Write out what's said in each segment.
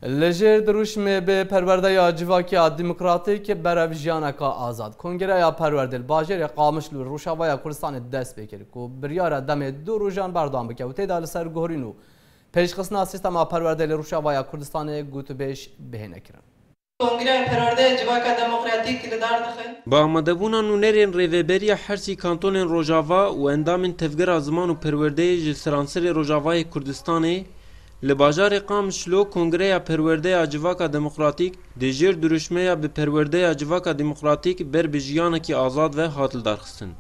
Li jêr dirûşmê bi perwerde ya civakiya demokratîk berev jiyaneka azad Kongreya Perwerdê li bajêrê Qamişl û Rojavaya Kurdistanê dest pê kir ku biryare demê du rojan berdewam bike û tê de li ser guherîn û pêşxistina sîstema perwerdê li Rojavaya Kurdistanê gotûbêj bihêne kirin. Kongreya Perwerdeya Civaka Demokratîk li dar dixe. Bi amadebûna nûnerên Rêveberiya Hersî Kantonên Rojava û endamên Tevgera Ziman û Perwerdeyê ji seransirê Rojavayê Kurdistanê, li bajarê Qamişlo Kongreya Perwerdeya Civaka Demokratîk di jêr dirûşmeya Bi perwerdeya civaka demokratîk ber bi jiyanekî azad ve hat lidarxistin.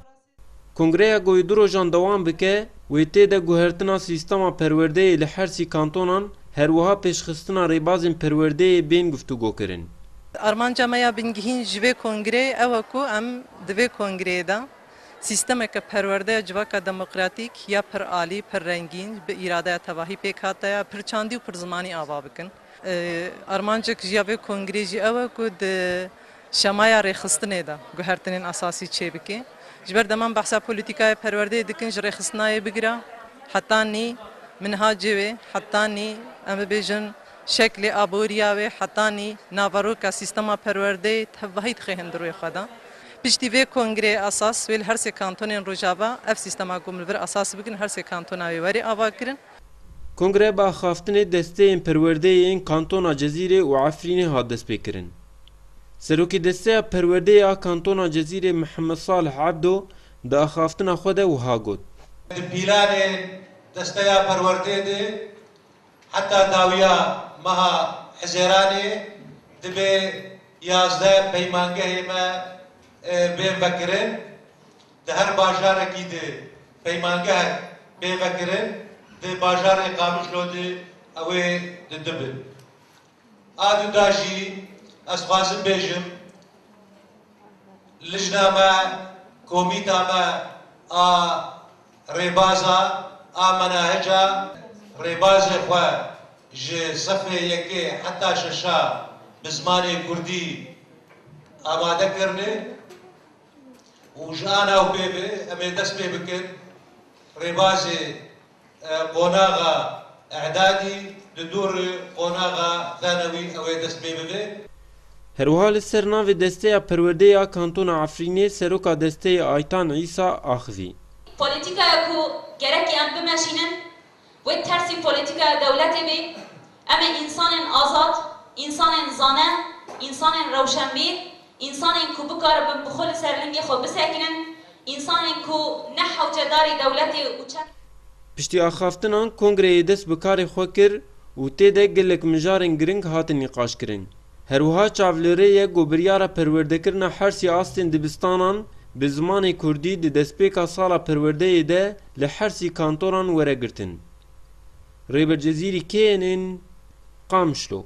Kongreya ku du rojan dewam bike wê tê de guhertina sîstema perwerdeyê li her sî kantonan her wiha pêşxistina rêbazên perwerdeyê bên guftûgokirin. Armanca me ya bingehîn ji vê kongreyê ew e ku em di vê kongreyê de sîstemeke perwerdeya civaka demokratîk ya pir alî, pir rengîn, bi îradeya tevahî pêk hate ya, pirçandî û pirzimanî ava bikin. Armancek ji ya vê kongrê jî ew e ku di şemaya rêxistinê de guhertinên esasî çêbike. Ji ber deman behsa polîtîkaya perwerdeyê dikin ji rêxistinayê bigire heta nî minhacê wê, heta nî em bibêjin şeklê aboriya wê, heta nî naveroka sîstema perwerdeyê tevahî dixêhin di rûyê xwe de. Piştî vê kongrê esas wê li her sê kantonên Rojava ev sîstema ku em li vir esas bikin li her sê kantona wê were avakirin. Kongreya bi axaftinê desteyên perwerdeyê yên kantona Cezîrê û Efrînê hat destpêkirin. Serokê desteya perwerdeyê a kantona Cezîrê Mihemed Salih Ebdo di axaftina xwe de wiha got. Di pîlanê desteya perwerdeyê de heta dawiya meha Hizêranê dibe yazdeh peymangehê me bên vekirin. Di her bajarekî de peymangehek bê vekirin, di bajarê Qamişlo de ew ê di du bin. A du da jî ez dixwazim bêjim lijna me, komîta me a rêbaza a menahica rêbazê xwe ji sifê yekê heta şeşa bi zimanê kurdî amade kirine. û ji anaw pê ve em ê dest pê bikin rêbazê qonaxa E'dadî li dorê qonaxa Thanewî ew ê dest pê bibe. Herwiha li ser navê Desteya Perwerdeyê ya Kantona Efrînê seroka desteyê Aytan Îsa axivî. Polîtîkaya ku gerek em bimeşînin Wê tersî polîtîkaya dewletê bê, em ê însanên azad, însanên zane, însanên rewşenbîr, însanên ku bikaribin bi xwe li ser lingê xwe bisekirin, însanên ku ne hewcedarê dewletê û çem. Piştî axaftinan kongreyê dest bi karê xwe kir û tê de gelek mijarên giring hatin nîqaşkirin. Her wiha çav li rê ye ku biryara perwerdekirina hersî astên dibistanan bi zimanê kurdî di destpêka sala perwerdeyê de li hersî kantoran were girtin. Rêber Cezîrî kê yên ên Qamişlo?